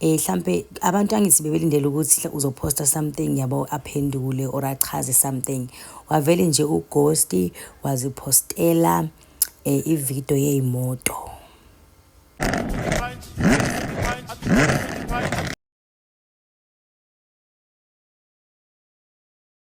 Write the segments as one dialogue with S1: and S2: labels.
S1: Eh hlampe abantu angithi bebelindele ukuthi uzoposta something yabo aphendule or achaze something. Wavele nje ughost wazipostela eh ivideo yeyimoto.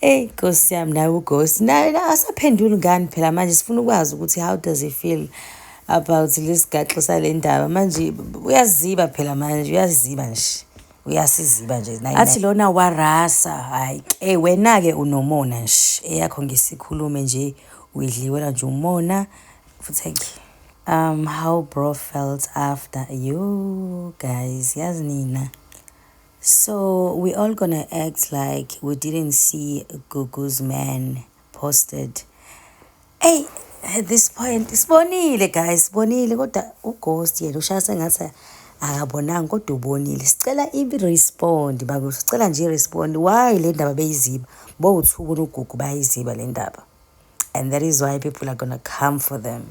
S1: Eyi nkosi yami naye ugosi naye asaphenduli ngani phela manje sifuna ukwazi ukuthi how does he feel about lesigaxo sale ndaba manje uyaziba phela manje uyaziba nje uyasiziba nje athi lona warasa hayi ke wena-ke unomona nje eyakho ngisikhulume nje uyidliwela nje umona futhi ake um how bro felt after you guys yazi nina So we all gonna act like we didn't see Gugu's man posted. Hey, at this point sibonile guys, sibonile kodwa ughost yena ushaya sengathi akabonanga kodwa ubonile. Sicela i-respond bakuthi sicela nje i-respond why le ndaba beyiziba. Bowuthuka unogugu bayiziba le ndaba. And that is why people are gonna come for them.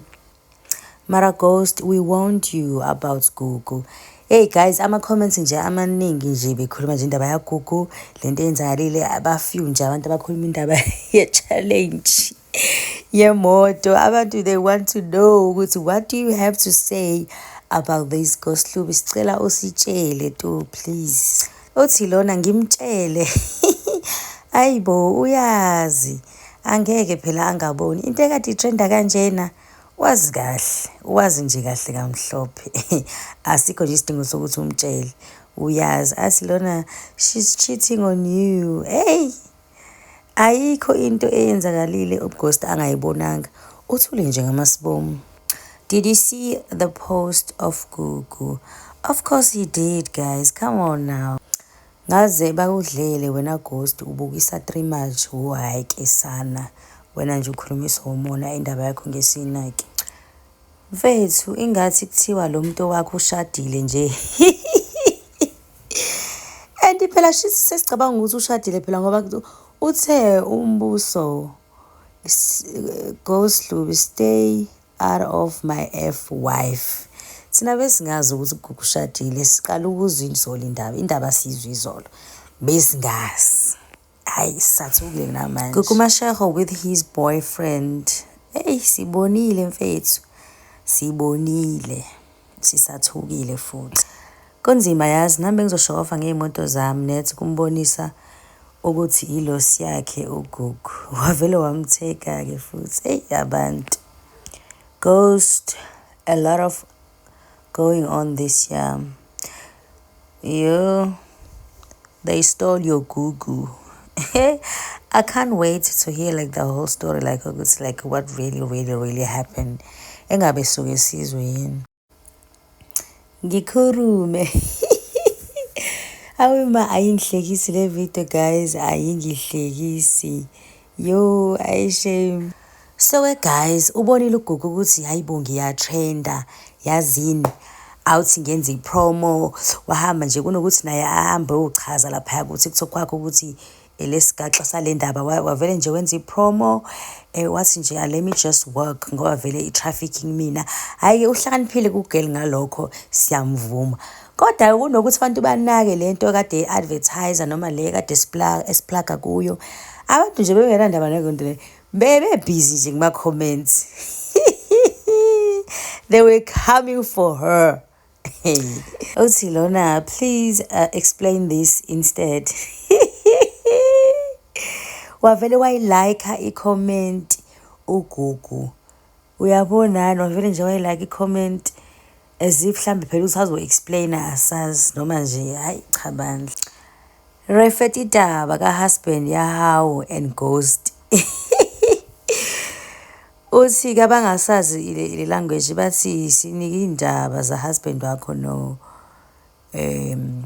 S1: Mara Ghost, we warned you about Gugu. Hey guys, ama-comments nje amaningi nje bekhuluma nje indaba yaGugu, le nto eyenzakalile, abafew nje abantu abakhuluma indaba ye-challenge yemoto. Abantu they want to know ukuthi what do you have to say about this Ghost Lubi? Sicela usitshele tu please. Uthi lona ngimtshele. Ayibo uyazi. angeke phela angaboni into ekade itrenda kanjena wazi kahle wazi nje kahle kamhlophe asikho nje isidingo sokuthi umtshele uyazi athi lona she's cheating on you hey ayikho into eyenzakalile ughost angayibonanga uthule nje ngamasibomu did you see the post of gugu of course he did guys come on now Ngaze bakudlele wena ghost ubukisa three much wo hayi ke sana wena nje ukhulumisa umona indaba yakho ngesinaki mfethu ingathi kuthiwa lo muntu wakho ushadile nje and phela shisi sesicabanga ukuthi ushadile phela ngoba uthe umbuso go Slubi stay Out of my F wife. Thina besingazi ukuthi uGugu ushadile, siqala ukuzwa izolo indaba. Indaba siyizwa izolo. Besingazi. Hayi sathukile namanje. Gugu Mashego with his boyfriend. Hey sibonile mfethu. Sibonile. sisathukile futhi kunzima yazi nami bengizoshokova ngey'moto zami nethi kumbonisa ukuthi yilosi yakhe ugugu wavele wamtheka-ke futhi eyi abantu ghost a lot of going on this year Yo, they stole your gugu. I can't wait to hear like the whole story like it's like what really really really happened. Engabe suke sizwe yini. Ngikhurume. Awuma ayingihlekisi le video guys ayingihlekisi. Yo, ayi shame. So ke guys, ubonile uGugu ukuthi hayibo ngiyatrenda yazini awuthi ngenza ipromo wahamba nje kunokuthi naye ahambe uchaza lapha ukuthi kuthiwa kwakho ukuthi elesigaxa sale ndaba wavele nje wenza ipromo eh wathi nje ah, let me just work ngoba vele i-trafficking mina hhayi-ke uhlakaniphile kugirl ngalokho siyamvuma Kodwa kunokuthi abantu banake le nto kade i-advertiser noma le kade esiplaga kuyo abantu nje bebengenandaba naleyo nto le bebebhizi nje kuma-comments they were coming for her uthi lona please uh, explain this instead wavele wayilayikha i-comment ugugu uyabonani wavele nje wayilike i-comment as if mhlawumbe phela ukuthi azo-explaina asazi noma nje hhayi cha bandla refet idaba ka-husband yahawu and ghost uthi ke abangasazi ile language bathi sinike iy'ndaba za-husband wakho no um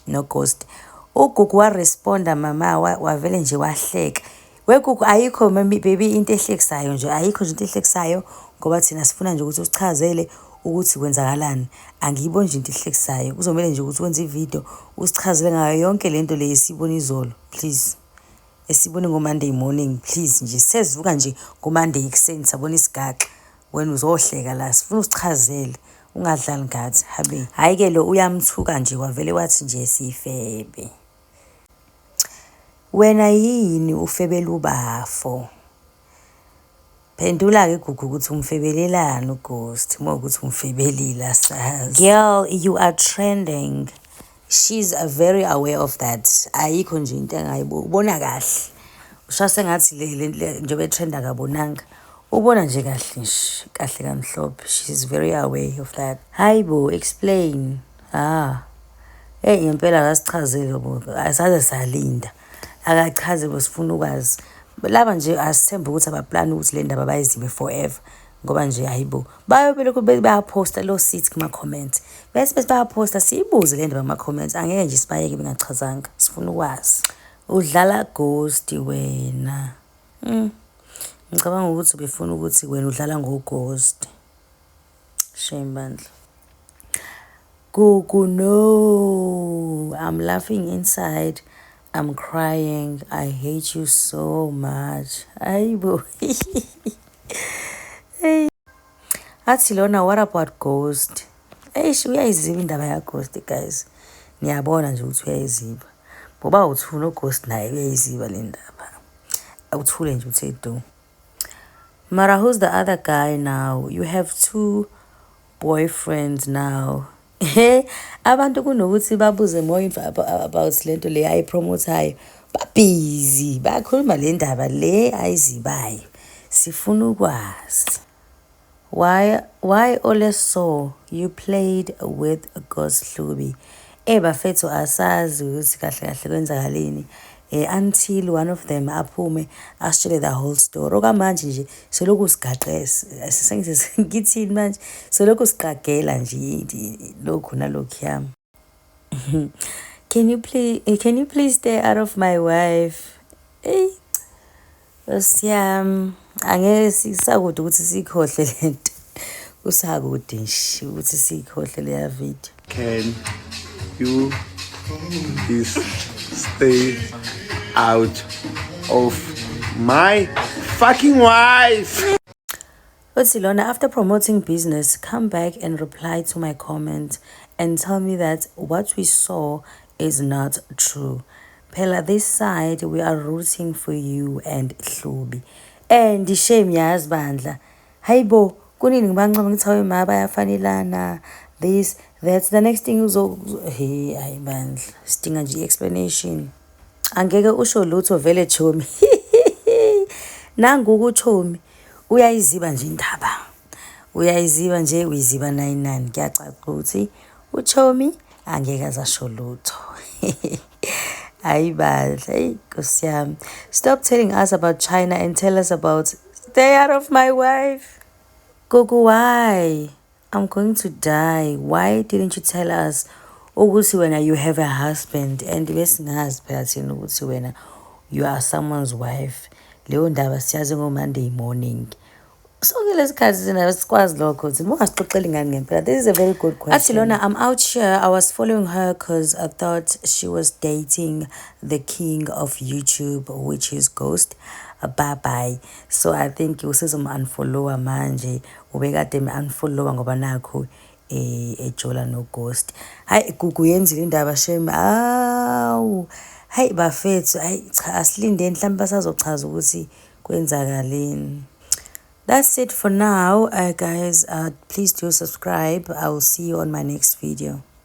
S1: no ghost ugugu wa responda mama wavele nje wahleka wegugu ayikho baby into ehlekisayo nje ayikho nje into ehlekisayo ngoba thina sifuna nje ukuthi usichazele ukuthi kwenzakalani angiyiboni nje into ehlekisayo kuzomele nje ukuthi wenze ividiyo usichazele ngayo yonke le nto le esiyibona izolo please esibone ngomonday morning please nje sezivuka nje ngomonday ekuseni sabona isigaxa wena uzohleka la sifuna usichazele ungadlali ngathi habe hhayi ke lo uyamthuka nje kwavele wathi nje sifebe wena yini ufebela ubafo phendula-ke gugu ukuthi umfebelelani ughost uma ukuthi umfebelile asazi girl you are trending She's very aware of that. Ayikho nje into engayibuki. Ubona kahle. Usha sengathi le le le- njengoba etrend akabonanga. Ubona nje kahle nje. Kahle kamhlophe. She's very aware of that. Hayi bo, explain. Ah. Hey ngempela akasichazile bo. Asaze salinda. Akachaze bo sifuna ukwazi. Laba nje asithembe ukuthi abaplani ukuthi le ndaba bayizibe forever. ngoba nje hayibo bayo belokhu bayaphosta lo sit kuma comment bese bese bayaphosta siyibuze le ndaba kuma comment angeke nje sibayeke bengachazanga sifuna ukwazi udlala ghost wena mm. ngicabanga ukuthi ubefuna ukuthi wena udlala ngo ghost shame bandla Gugu no I'm laughing inside I'm crying I hate you so much ayibo hey athi lona what about ghost eish uyayiziba indaba ya ghost guys niyabona nje ukuthi uyayiziba ngoba uthula ughost naye uyayiziba le ndaba awuthule nje uthe do Mara who's the other guy now? You have two boyfriends now. He abantu kunokuthi babuze more info about lento le ayi promote hayo. Ba busy bakhuluma le ndaba le ayizibayo. Sifuna ukwazi. Why why ole so you played with Ghost Hlubi. Eh bafethu asazi ukuthi kahle kahle kwenzakaleni eh, until one of them aphume asitshele the whole story okwamanje nje selokhu sigaqesisengithini manje selokhu siqagela nje lokhu nalokhuya can you please eh, can you please stay out of my wife eyi osiyam angeke sisakude ukuthi siyikhohle le nto kusakude nje ukuthi siyikhohle leya video can
S2: you please stay out of my fucking wife Uthi
S1: lona after promoting business come back and reply to my comment and tell me that what we saw is not true. Phela this side we are rooting for you and Hlubi. And shame yazi bandla. Hayibo kunini ngibancoma ngithi awe ma bayafanelana this that's the next thing uzo hey hayi bandla sidinga nje explanation. Angeke usho lutho vele chomi. Nangu kuchomi Uyayiziba nje indaba. Uyayiziba nje uyiziba 99 kuyacaca ukuthi uThomi angeke azasho lutho. Hayi bandla, hey Nkosi yami. Stop telling us about China and tell us about stay out of my wife. Gogo why? I'm going to die. Why didn't you tell us ukuthi wena you have a husband and besingazi phela thina ukuthi wena you are someone's wife. Leyo ndaba siyazi ngo-Monday morning. Sonke lesikhathi sina sikwazi lokho ukuthi ungasixoxeli ngani ngempela. This is a very good question. Athi lona I'm out here. I was following her because I thought she was dating the king of YouTube which is Ghost. Bye bye. So I think usizom unfollower manje. Ubekade me unfollowa ngoba nakhu eh, ejola no ghost. Hayi Gugu yenzile indaba shame. Awu. Hayi bafethu, hayi cha asilinde mhlawumbe basazochaza ukuthi kwenzakaleni. That's it for now. Uh, guys, uh, please do subscribe. I will see you on my next video.